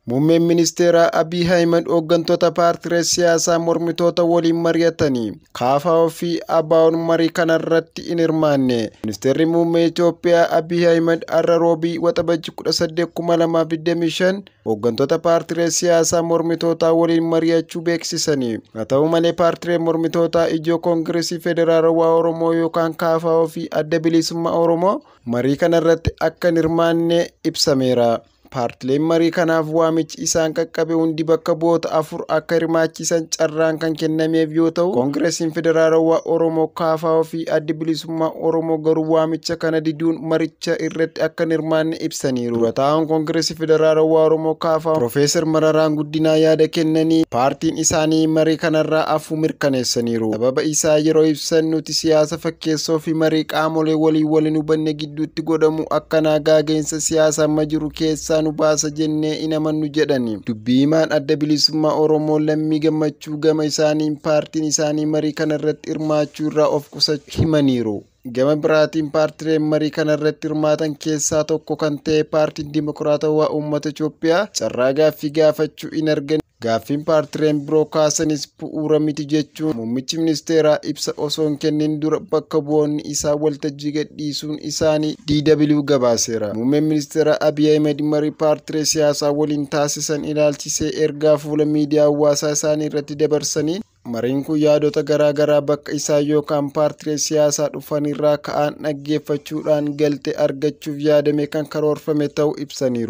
Muummeen ministeeraa Abiy Ahimad hooggantoota paartilee siyaasaa mormitoota waliin mari'atanii kaafaa ofii ABOn marii kanarratti hin hirmaanne. Ministeerri muummee Itoophiyaa Abiy Ahimad har'a Roobii Waxabajji 18,2025 hooggantoota paartilee siyaasaa mormitootaa waliin mari'achuu beeksisanii. Haa ta'u malee paartilee mormitootaa ijoo Koongireesii Federaalawaa Oromoo yookaan kaafaa ofii adda bilisummaa Oromoo marii kanarratti akka hin hirmaanne ibsameera. Paartileen marii kanaaf waamichi isaan qaqqabe hundi bakka bu'oota afur akka hirmaachisan carraan kan kennameef yoo ta'u, Koongiresiin Federaalawaa Oromoo Kaafaa fi Addi Bilisummaa Oromoo garuu waamicha kana diduun maricha irratti akka hin hirmaanne ibsaniiru. Dura taa'aan Koongiresii Federaalawaa Oromoo Kaafaa Piroofeesar Mararaan Guddinaa yaada kennanii paartiin isaanii marii kanarraa afuu mirkaneessaniiru. Sababa isaa yeroo ibsan nuti siyaasa fakkeessoo fi marii qaamolee waliin wal hin hubanne gidduutti godhamu akkanaa gaageensa siyaasa amma jiru keessaa nu baasa jennee hin amannu jedhani. Dubbii himaan adda bilisummaa Oromoo lammii gammachuu gama isaaniin paartiin isaanii marii kana irratti hirmaachuu irraa of qusachuu himaniiru. Gama biraatiin paartileen marii kana irratti hirmaatan keessaa tokko kan ta'e paartiin Dimokiraatawaa Uummata Itoophiyaa carraa gaaffii gaafachuu hin arganne. Gaaffiin paartileen biroo kaasanis bu'uura miti jechuun muummichi ministeeraa ibsa osoo hin kennin dura bakka bu'oonni isaa waltajjii gadhiisuun isaanii DW gabaaseera. Muummeen ministeeraa Abiy Ahmed marii paartilee siyaasaa waliin taasisan ilaalchisee ergaa fuula miidiyaa hawaasaa isaanii irratti dabarsaniin mariin kun yaadota garaa garaa bakka isaa yookaan paartilee siyaasaa dhufanirraa ka'aan dhaggeeffachuudhaan galtee argachuuf yaadame kan karoorfame ta'uu ibsaniiru.